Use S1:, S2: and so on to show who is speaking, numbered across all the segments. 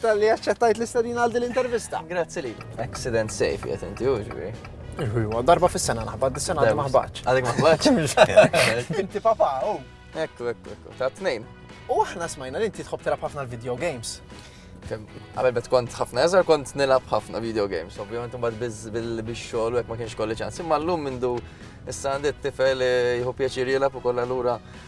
S1: Tal-li aċċettajt l-istadina għal din l-intervista. Grazzi li.
S2: Accident safe, jgħet inti uġbi. Iwa, darba
S1: fis-sena naħbad, dis-sena għadek maħbaċ. Għadek maħbaċ.
S2: Inti papa, u.
S1: Oh. Ekku, ekku,
S2: ekku, ta' t-nejn. U aħna smajna
S1: li inti tħob telab ħafna l-video games. Għabel
S2: bet kont ħafna eżar kont nilab ħafna video games, ovvijament mbagħad bil-xogħol u hekk ma kienx kolli ċans. Imma llum mindu issa għandi t-tifel eh, jħu pjaċir jilab ukoll allura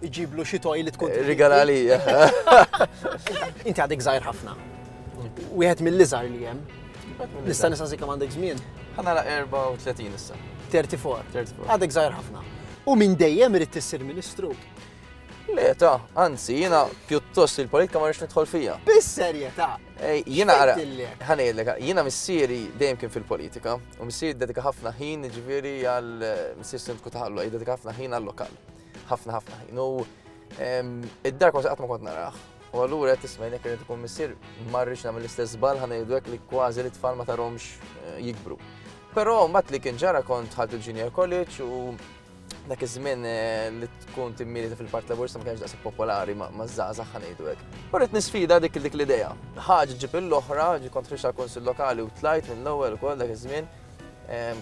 S1: Iġiblu xi toj li tkun. Rigalali. Inti għadek żgħir ħafna. Wieħed mill-iżgħar li hemm. Nista' nisa zikka għandek żmien. Ħana la 34
S2: issa. 34.
S1: Għadek żgħir ħafna. U minn dejjem irid tissir ministru. Le,
S2: ta, anzi, jina pjuttost il-politika ma rix nidħol fija. Bis-serjetà.
S1: Jina għara,
S2: ħanejlek,
S1: jina
S2: missieri dejjem kien fil-politika, u missieri dedika ħafna ħin ġviri għal missieri sindku taħallu, dedika ħafna ħin għal lokal. Ħafna ħafna ħin. U id-dar kważi qatt ma kont naraħ. U allura qed tisma' jnek irid ikun missier marrix nagħmel l-istess żball ħa ngħidu hekk li kważi li tfal ma tarhomx eh, jikbru. Però mbagħad li kien ġara kont ħadd il-junior college u dak iż-żmien eh, li tkun timmieli fil-Park Laburista ma kienx daqshekk popolari ma' żgħażagħ ħanejdu hekk. U rrid nisfida dik dik l-idea. Ħaġa ġib l-oħra, ġi kont ħriġ tal-Kunsill Lokali u tlajt minn l-ewwel ukoll dak iż-żmien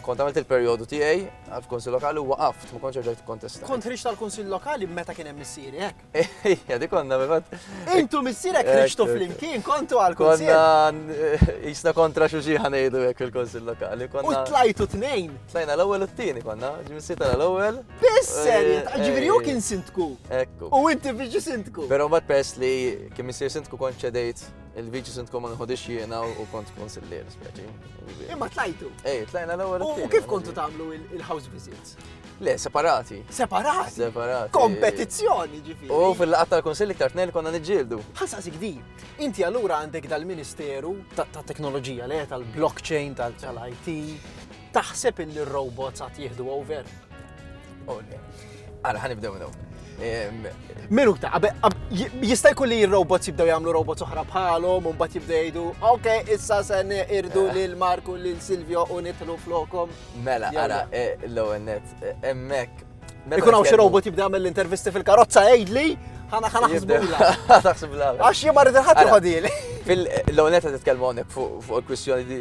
S2: Kont għamilt il-perjodu tiegħi għal kunsill lokali u waqaft, ma kontx ġejt kontesta. Kont ħriġt tal-kunsill
S1: lokali meta kien hemm missieri hekk. Ejja, dik konna
S2: bifat. Intu missierek
S1: ħriġtu flimkien kontu għal kunsill. Konna eh,
S2: jisna kontra xi xi ħanejdu hekk fil-kunsill lokali. U tlajtu tnejn.
S1: Tlajna l-ewwel u t-tieni
S2: konna, ġimsieta l-ewwel. Bisser, eh, eh,
S1: ġifieri hu kien sintku. Ekku. U inti
S2: biex sintku.
S1: Però mbagħad pers li
S2: kien missier sintku kont ċedejt Il-Viċi Sindku ma nħodix jiena u kont konsillier speċi. Imma tlajtu.
S1: Ej, tlajna l-ewwel.
S2: U kif kontu tagħmlu
S1: il-house visits? Le, separati.
S2: Separati? Separati. Kompetizzjoni
S1: ġifi. U fil-laqat tal-Konsilli
S2: ktar tnejn konna niġġieldu. Ħassa sigdi,
S1: inti allura għandek dal-Ministeru ta' teknoloġija le tal-blockchain, tal-IT. Taħseb illi r-robots għat jihdu over? Oh,
S2: Għara, ħan ibdew minnu.
S1: Minu ta' jista' jkun li robots jibdew jagħmlu robots oħra bħalhom u mbagħad jibdew jgħidu, ok, issa se irdu eh. lil Marku lil Silvio u nitlu flokom. Mela, ara,
S2: eh, l-ewwel net, eh, hemmhekk. Ikun hawn xi
S1: robot jibda jagħmel l-intervisti fil-karozza għidli, ħana ħana ħsbula. Taħsibla. Għax
S2: jien ma rrid ħadd
S1: Fil-lewnet
S2: qed titkellmu hawnhekk fuq il-kwistjoni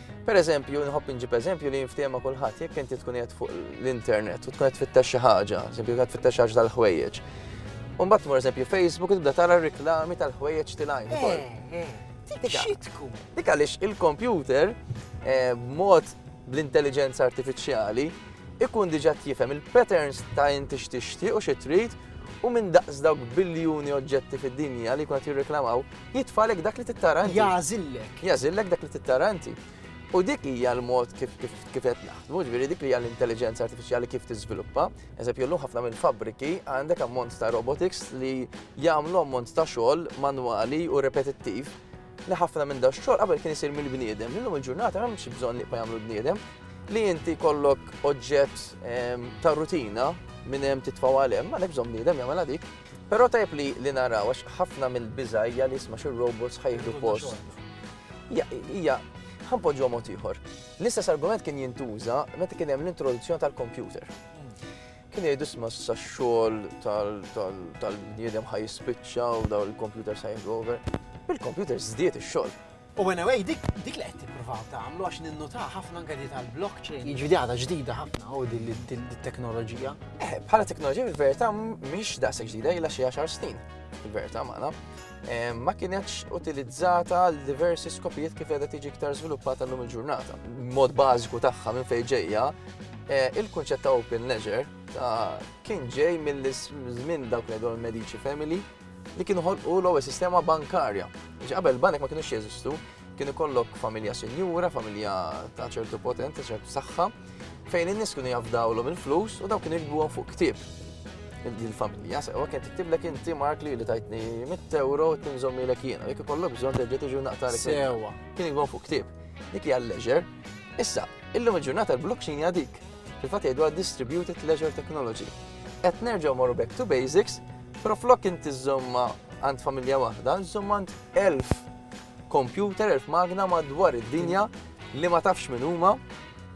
S2: Per eżempju, nħobb inġib eżempju li jinftema kulħadd jekk inti tkun qed fuq l-internet u tkun qed tfittex xi ħaġa, eżempju qed tfittex ħaġa tal-ħwejjeġ. U mbagħad tmur eżempju Facebook tibda tara reklami tal-ħwejjeġ tilajn eh, ukoll. Eh, Dik għaliex il-kompjuter eh, b'mod bl-intelligenza artifiċjali ikun diġà jifhem il-patterns ta' inti x'tixtieq u xi trid u minn daqs dawk biljuni oġġetti fid-dinja li kont jirreklamaw Jitfalek dak li tittara inti. Jażillek. Jażillek dak li tittara inti. U dik hija l-mod kif qed naħdmu, ġifieri dik li hija l-intelligenza artifiċjali kif tiżviluppa. Eżempju, llum ħafna minn fabbriki għandek ammont ta' robotics li jagħmlu ammont ta' xogħol manwali u repetittiv li ħafna minn da xogħol qabel kien isir mill-bniedem. Illum il-ġurnata hemm xi bżonn li jagħmlu bniedem li inti kollok oġġett ehm, ta' rutina minn hemm titfgħu għal hemm, għalhekk bżonn bniedem jagħmel dik. Però tajjeb li li naraw għax ħafna mill-biża' hija li isma' xi robots ħa jieħdu post. Hija hija ħanpoġġu mod ieħor. L-istess argument kien jintuża meta kien hemm l-introduzzjoni tal-kompjuter. Kien jgħidu isma' sa xogħol tal-bniedem ħa jispiċċa u daw il-kompjuter sa jieħdu over. Bil-kompjuter żdied ix-xogħol. U
S1: anyway, dik dik li qed tippruvaw tagħmlu għax ninnutaha ħafna anke li tal-blockchain. Jiġri għadha ġdida ħafna u din it-teknoloġija. Eh, bħala teknoloġija
S2: fil-verità mhix daqshekk ġdida ilha xi għaxar snin fil-verità magħna. Eh, ma kienetx utilizzata għal diversi skopijiet kif qiegħda tiġi iktar żviluppata llum il-ġurnata. Mod bażiku tagħha minn fejn ġejja, eh, il-kunċett ta' open ledger ta' kien ġej mill-żmien dawk li l-Medici Family li kienu ħolqu l-ewwel sistema bankarja. Biex qabel banek ma kienux jeżistu, kien ikollok familja sinjura, familja ta' ċertu potenti, ċertu saħħa, fejn in-nies kienu jafdawlhom il-flus u dawn kienu jikbuhom fuq ktieb il-familja, sewa kien tiktiblek inti mark li li tajtni 100 euro tinżommi l jiena, jekk ikollok bżonn terġa' tiġi naqtar sewa. Kien jgħu
S1: fuq ktieb.
S2: Dik hija leisure. Issa, illum il-ġurnata l-blockchain hija dik. Fil-fatt jgħidu distributed leisure technology. Qed nerġgħu morru back to basics Però flok inti żżommha għand familja waħda, żżomm għand elf kompjuter, elf magna madwar id-dinja li ma tafx min huma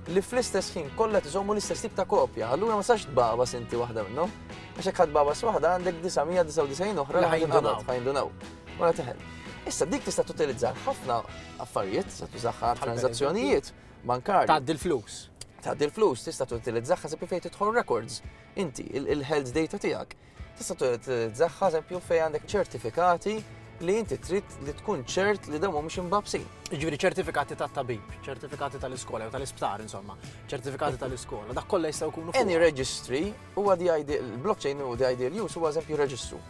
S2: li fl-istess ħin kollha tiżommu l-istess tip ta' kopja. Allura ma sax tbaba sinti waħda minnhom. Għax hekk ħadd baba waħda għandek 999 oħra li ħajindunaw. Ħajindunaw. Wara teħel. Issa dik tista' tutilizza ħafna affarijiet, tista' tużaħħa transazzjonijiet bankarji. Tgħaddi l-flus.
S1: Tgħaddi l-flus,
S2: tista' tutilizzaħħa se fejn tidħol records. Inti, il-health data tiegħek, tista' tutilizzaha eżempju fejn għandek ċertifikati li inti trid li tkun ċert li dawn mhumiex imbabsin. Ġifieri ċertifikati
S1: ta' tabib, ċertifikati tal-iskola jew tal-isptar insomma, ċertifikati tal-iskola, dak kollha jistgħu jkunu. Any registry
S2: huwa di il-blockchain u di ideal use huwa eżempju reġistru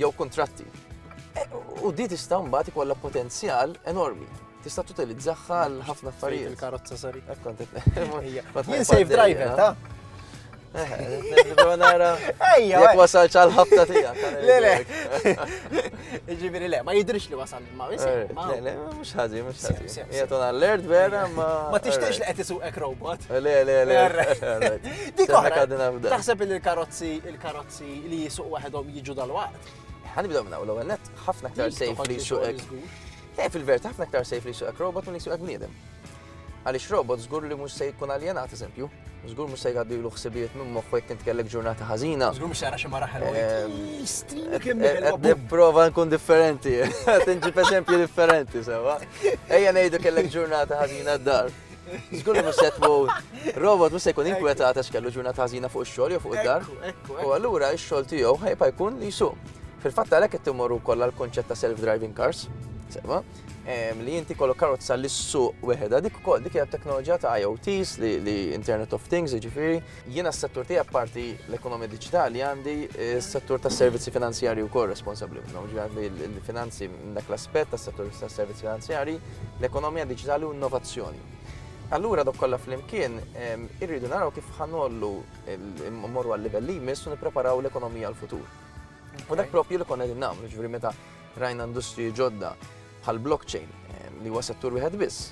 S2: jew kontratti. E, u di tista' mbagħad ikollha potenzjal enormi. Tista' tutilizzaha għal ħafna affarijiet. Il-karozza sari. Jien safe
S1: driver,
S2: ta' Ejja. Jek wasal ċal ħabta tija. Le, le.
S1: Ġibiri le, ma jidrix li wasal ma wisi. Eh, le, le, mux
S2: ħagġi, mux ħagġi. Jgħatun għall-lert vera ma. Ma tixtiex li għetisu
S1: ek robot. Eh, le, le, le.
S2: Dik
S1: oħra. Taħseb il-karozzi, il-karozzi li jisuq waħedhom jiġu dal-waqt. Ħanibda minna u
S2: l-għennet ħafna ktar safe li jisuq Le, fil-verità ħafna iktar sejf li jsuqek robot minn jsuqek bniedem. Għaliex robot żgur li mhux se jkun aljenat eżempju, żgur mhux se jgħaddilu ħsibijiet minn moħħu jekk int kellek ġurnata ħażina. Żgur mhux jara xi mara ħelwa. Nipprova ehm, nkun differenti, tinġib eżempju differenti sewa. Ejja ngħidu kellek ġurnata ħażina d-dar. Żgur li mhux se tmut. Robot mhux se jkun inkwetat għax kellu ġurnata ħażina fuq ix-xogħol jew fuq id-dar. U allura x-xogħol tiegħu ħajba jkun li jsuq. Fil-fatt għalhekk qed timorru kollha l-konċett ta' self-driving cars. Sema, li inti kollok karozza li s-suq weħeda dik ukoll dik hija teknoloġija ta' IoTs li Internet of Things, jiġifieri Jiena s-settur tiegħi apparti l-ekonomija diġitali għandi s-settur tas-servizzi finanzjarji wkoll responsabbli minnhom, ġifieri l-finanzi minn dak l-aspett tas-settur tas-servizzi finanzjarji, l-ekonomija diġitali u innovazzjoni. Allura dok kollha flimkien irridu naraw kif ħanollu mmorru għal livell li jmiss u nippreparaw l-ekonomija l-futur. U dak propju li konna qegħdin nagħmlu, ġifieri meta rajna industri ġodda bħal blockchain li huwa settur wieħed biss,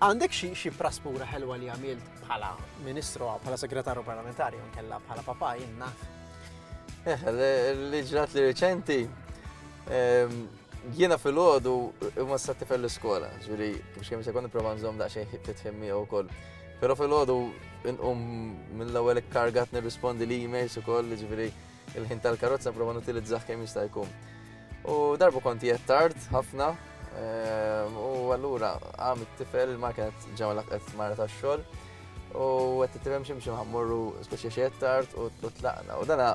S2: Għandek
S1: xi xi praspura ħelwa li għamilt bħala ministru, bħala segretarju parlamentari, jew kella bħala papa jinna? Eh,
S2: li ġrat li reċenti, ehm, jiena fil-ħodu ma s-satti fil-skola, ġuri, biex kemm sekund prova nżom daqxejn ħittit femmi u koll. Pero fil-ħodu nqum mill-ewwel kargat nirrispondi li emails u koll, ġuri, il-ħin tal-karozza prova nutilizzah kemm jista' jkun. U darbu kont jett tard ħafna ehm, u allura għam it-tifel ma kienet ġewla qed mara tax-xogħol u qed titrem xi mxi ħammorru speċi xi tard u tlaqna. U dana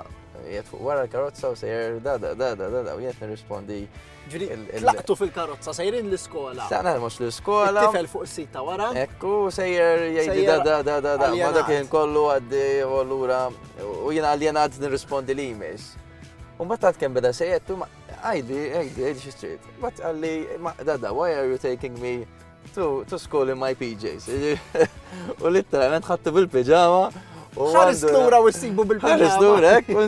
S2: jett fuq wara l-karozza u sejjer da da da da da u jett nirrispondi Ġri, tlaqtu
S1: fil-karozza, sejrin l-iskola. Tlaqna mux l-iskola.
S2: Tifel fuq s-sit ta' wara.
S1: Ekku, sejjer
S2: jgħidi da da da da da. Ma dak kien kollu għaddi u l-ura. U jina għaljen għad nirrispondi li jmiss. Un battat kem beda sejjer, tu ma għajdi, għajdi, għajdi xistrit. Bat għalli, ma da da, why are you taking me to, to school in my PJs? U literalment ħattu
S1: bil-pijama. Ħaris l-ura u
S2: s-sibu bil-pijama.
S1: Ħaris l-ura,
S2: ekku,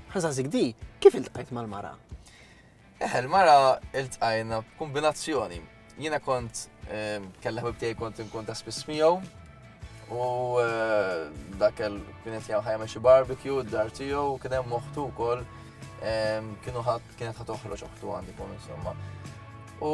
S2: Ħażażik di,
S1: kif iltqajt mal-mara? Eh, il-mara
S2: iltqajna b'kombinazzjoni. Jiena kont ehm, kellha ħbib kont inkun ta' spiss miegħu u eh, dak kienet jgħu ħajja xi barbecue d-dar tiegħu kien hemm moħtu wkoll ehm, kienu ħadd kienet ħadd toħroġ oħtu għandi kun insomma. U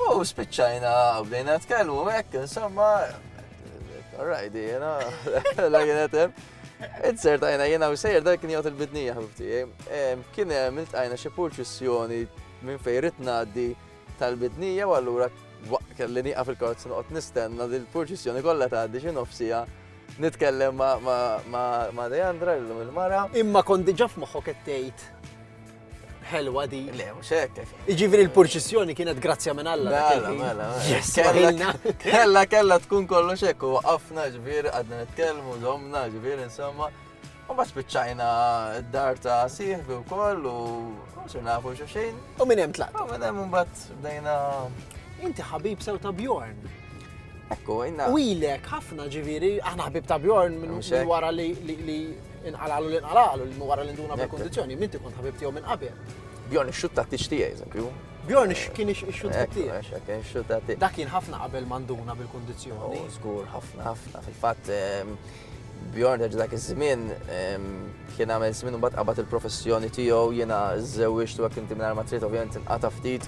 S2: U spiċċajna bdejna tkellmu hekk, insomma, rajdi jena, la kienet hemm. Insertajna jena u sejr dak kien jgħod il-bidnija ħabibti. Kien hemm iltqajna xi purċissjoni minn fejn rid ngħaddi tal-bidnija u allura kelli nieqaf il-karozza noqgħod nistenna li l-purċissjoni kollha tgħaddi xi nofsija nitkellem ma' Deandra, l-lum il-mara. Imma kont diġa f'moħħok
S1: qed tgħid ħelwa di. Le, mhux hekk.
S2: Iġifieri l-purċissjoni
S1: kienet grazzja minn Alla. Mela, mela.
S2: mela.
S1: Kella
S2: kella tkun kollox hekk u waqafna ġbir għadna nitkellmu żomna ġbir insomma. U ma spiċċajna d-dar ta' sieħbi u koll u xi nafu xi xejn. U minn hemm tlaq. U minn
S1: hemm imbagħad
S2: bdejna. Inti
S1: ħabib sew ta' Bjorn. Ekku,
S2: inna. U ilek ħafna
S1: ġifieri, aħna ħabib ta' Bjorn minn wara li Inqalalu li inqalalu li wara li nduna bil-kondizjoni, minti kont ħabib tiegħu minn qabel. Bjorn ix-xut ta'
S2: tixti eżempju. Bjorn kien
S1: ix-xut ta' tixti. Kien ix-xut ta' tixti. Dak
S2: kien ħafna qabel
S1: manduna bil-kondizjoni. Oh, żgur, ħafna,
S2: ħafna. Fil-fatt, ehm, Bjorn ġa dak iż-żmien ehm, kien għamel żmien u mbagħad qabad il-professjoni tiegħu jiena żewġtu għak inti minn armatrit ovvjament inqata' ftit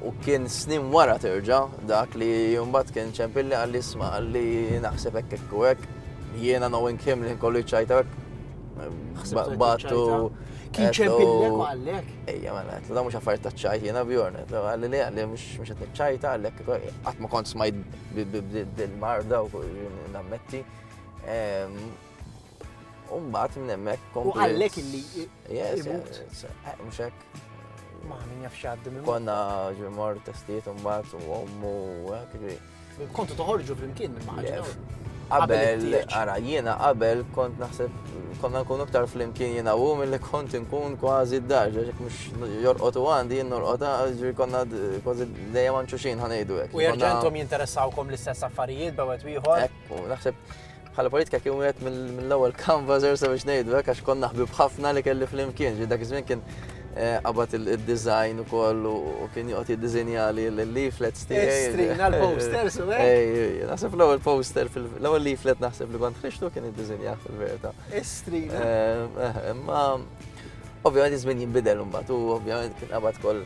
S2: U kien snin wara terġa dak li jumbat kien ċempilli għalli isma għalli naħseb hekk hekk u hekk. Jiena knowing him li nkollu ċajta hekk. Battu. Kien ċempilli
S1: u għallek. Ejja, ma għallet, da mux
S2: affarijiet ta' ċajt jiena bjorn. Għalli li għalli mux għet ċajta għallek. Għat ma kont smajt bil-marda u nammetti. Umbat minn emmek. U għallek illi.
S1: Yes, yes.
S2: Mux hekk. Ma min jaf
S1: xaddi minn. Konna ġemor
S2: testijiet un bat u għommu għakri. Kontu toħorġu
S1: flimkien minn maħġa. Qabel,
S2: ara, jiena qabel kont naħseb, konna nkun iktar flimkien jiena u mill-li kont nkun kważi d-dar, ġek mux jorqotu għandi, jien norqota, ġri konna kważi dejjem għanċu xin ħanajdu għek. U
S1: jinteressaw kom l-istess affarijiet, bawet wieħor. Ekku, naħseb
S2: Bħala politika kien wieħed mill-ewwel canvassers sabiex ngħidu hekk għax konna ħbib ħafna li kelli flimkien, ġi dak iż-żmien kien eh, qabad il-design ukoll u kien joqgħod jiddiżinja li l-leaflets tiegħi. Strina l-posters
S1: u hekk. Naħseb l-ewwel
S2: poster l-ewwel leaflet naħseb li kont ħriġtu kien iddiżinja fil-verità. Strina. Eh,
S1: eh, imma
S2: ovvjament iż-żmien jinbidel imbagħad u ovvjament kien qabad koll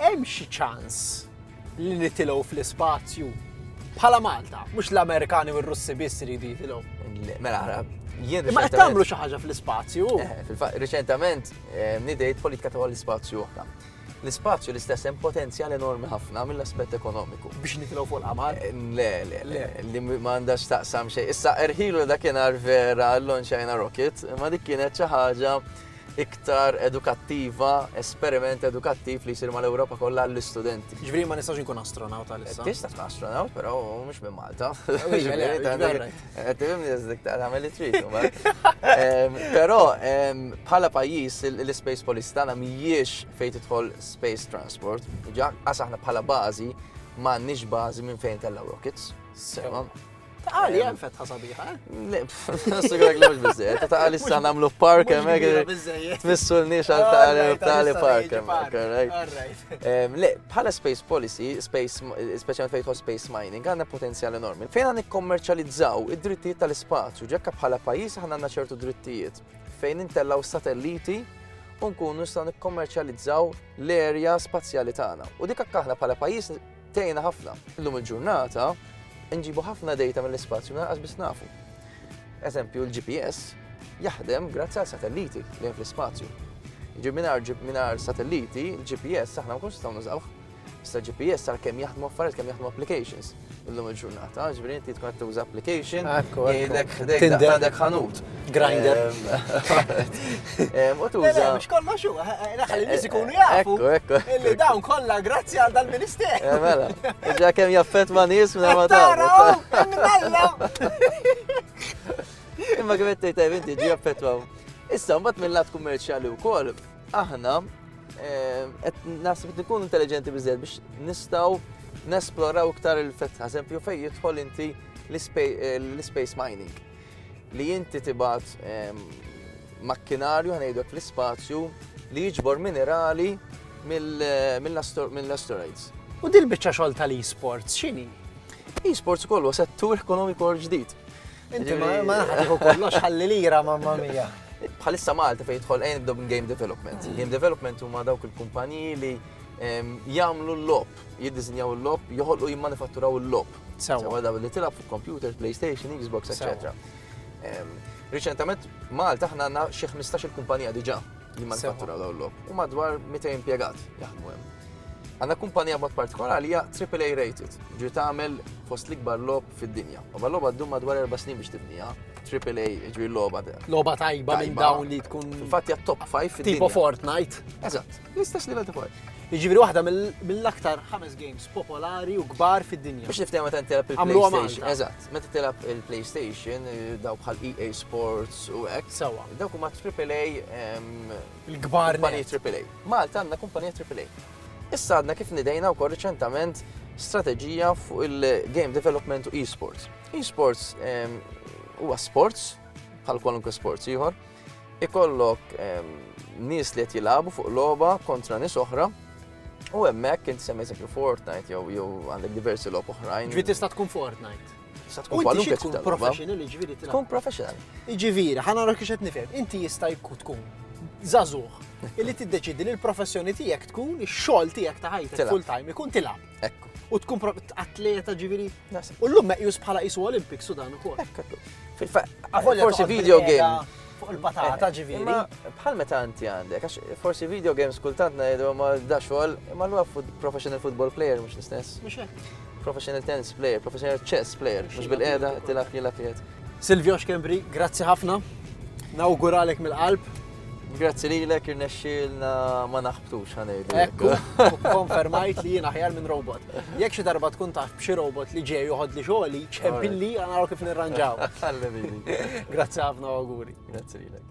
S1: Hemm xi ċans li nitilgħu fl-ispazju? Bħala Malta, mhux l-Amerikani u r-Russi biss iridu jitilgħu. Mela,
S2: jien. Ma qed tagħmlu xi ħaġa
S1: fl-ispazju. Eh, riċentament
S2: eh, nidejt politika ta' l-ispazju oħra l-ispazju l-istess hemm potenzjal enormi ħafna mill-aspett ekonomiku. Biex nitilgħu fuq l-qamar?
S1: Eh, le, le, le,
S2: li ma għandax taqsam xejn. Issa erħilu dakinhar vera l-Lonxajna Rocket, ma dik kienet xi ħaġa iktar edukattiva, esperiment edukattiv li jsir mal-Ewropa kollha għall-istudenti. Ġifieri ma nistax inkun
S1: astronawt għal issa. Tista' tkun astronawt, però
S2: mhux minn Malta. Tifhimni dik tagħmel li trid. Però bħala pajjiż l-space policy tagħna mhijiex fejn tidħol space transport. Ġa aħna bħala bażi m'għandniex bażi minn fejn tellgħu rockets. Sewa.
S1: Taqali, hemm fetħa
S2: sabiħa. Sigurek li mhux biżejjed, ta' taqali issa nagħmlu park hemmhekk. Tmissu l-nix għal taqali taqali park hemmhekk. Le, bħala space policy, space speċjalment fejn space mining, għandna potenzjal enormi. Fejn għandna nikkommerċjalizzaw id-drittijiet tal-ispazju, ġekka bħala pajjiż aħna għandna ċertu drittijiet fejn intellaw satelliti u nkunu nistgħu nikkommerċjalizzaw l-erja spazjali tagħna. U dik aħna bħala pajjiż Tgħinna ħafna. Illum il-ġurnata nġibu ħafna data mill-ispazju minn biss nafu. Eżempju, il-GPS jaħdem grazzi għal satelliti li hemm fl-ispazju. Ġib minar satelliti, il-GPS aħna ma kunx nistgħu nużawh. Issa GPS għal kemm jaħdmu affarijiet kemm jaħdmu applications illum il-ġurnata, ġifieri inti tkun qed tuża application, jgħidlek ħdejk għandek ħanut. Grinder. U tuża. Mux kollox u,
S1: naħal il-nis ikunu jafu. Ekku, ekku. Dawn
S2: kollha
S1: grazzi għal dal-minister. Eh, mela,
S2: ġa kem jaffet ma nis minn ma tara. Imma kif qed tgħid inti ġi jaffetwaw. Issa mbagħad mill-lat kummerċjali wkoll aħna eh, qed naħseb qed ikun intelligenti biżżejjed biex nistgħu nesploraw iktar il-fetħa, eżempju fejn jidħol inti l-space eh, mining. li inti tibgħat ehm, makkinarju ħanejdek fl-ispazju li jiġbor minerali eh, mill-asteroids. U dil biċċa
S1: xogħol tal-e-sports x'inhi? E-sports
S2: kollu settur ekonomiku ġdid. Inti ma
S1: naħdiħu kollox ħalli lira mamma mija. Bħalissa Malta
S2: fejn jidħol għajn nibdew minn game development. Mm. Game development huma dawk il-kumpaniji li jagħmlu l-lob, jiddisinjaw l-lob, joħolqu jimmanifatturaw l-lob. Sewa daw li tilab fuq computers, PlayStation, Xbox, etc. Riċentament Malta aħna għandna xi 15 il-kumpanija diġà li manifattura dawn l u madwar 200 impjegat jaħdmu hemm. Għandna kumpanija mod partikolari hija AAA rated, ġri tagħmel fost l-ikbar lob fid-dinja. U l-logħba ddum madwar erba' snin biex tibnija, AAA ġri logħba. Logħba tajba minn
S1: dawn li tkun. Infatti hija top 5 fid-dinja.
S2: Tipo Fortnite.
S1: Eżatt. L-istess
S2: livell ta' power. Jiġifieri waħda
S1: mill-aktar ħames games popolari u kbar fid-dinja. Biex niftehma tant tilab
S2: il-PlayStation. Eżatt, meta tilab il-PlayStation, daw bħal EA Sports u hekk. Sawa. Dawk huma AAA
S1: il-kbar kumpanija AAA.
S2: Malta għandna kumpanija AAA. Issa għadna kif nidejna wkoll riċentament strateġija fuq il-game development u e-sports. E-sports huwa sports bħal kwalunkwe sports ieħor ikollok nies li qed jilagħbu fuq logħba kontra nies oħra u hemmhekk inti semmi eżempju Fortnite jew jew għandek diversi logħob oħrajn. Ġiet tista' tkun Fortnite.
S1: Sa tkun kwalunkwe
S2: tkun professional,
S1: ġifieri tkun professional.
S2: Ġifieri, ħana nara
S1: kiex qed nifhem, inti jista' jkun tkun żagħżugħ illi tiddeċidi li l-professjoni tiegħek tkun ix-xogħol tiegħek ta' ħajtek full time ikun tilgħab. Ekku. U tkun atleta ġiviri. U l-lum meqjus bħala isu Olympic Sudan u kol.
S2: Forsi video game. Fuq il-patata
S1: eh, ġiviri. Bħal meta inti
S2: għandek, għax forsi video games kultant najdu ma da xogħol, ma l professional football player mhux l-istess.
S1: Professional tennis
S2: player, professional chess player, mhux bil-qeda tilaf jilaf Silvio Xkembri,
S1: grazzi ħafna. Nawguralek mill-qalb. Grazzi
S2: lilek irnexxielna ma naħbtux ħanejdu. Ekku,
S1: konfermajt li jien aħjar minn robot. Jekk xi darba tkun taf b'xi robot li ġej joħod li xogħli, ċempilli għanaru kif nirranġaw. Grazzi ħafna
S2: auguri.
S1: Grazzi lilek.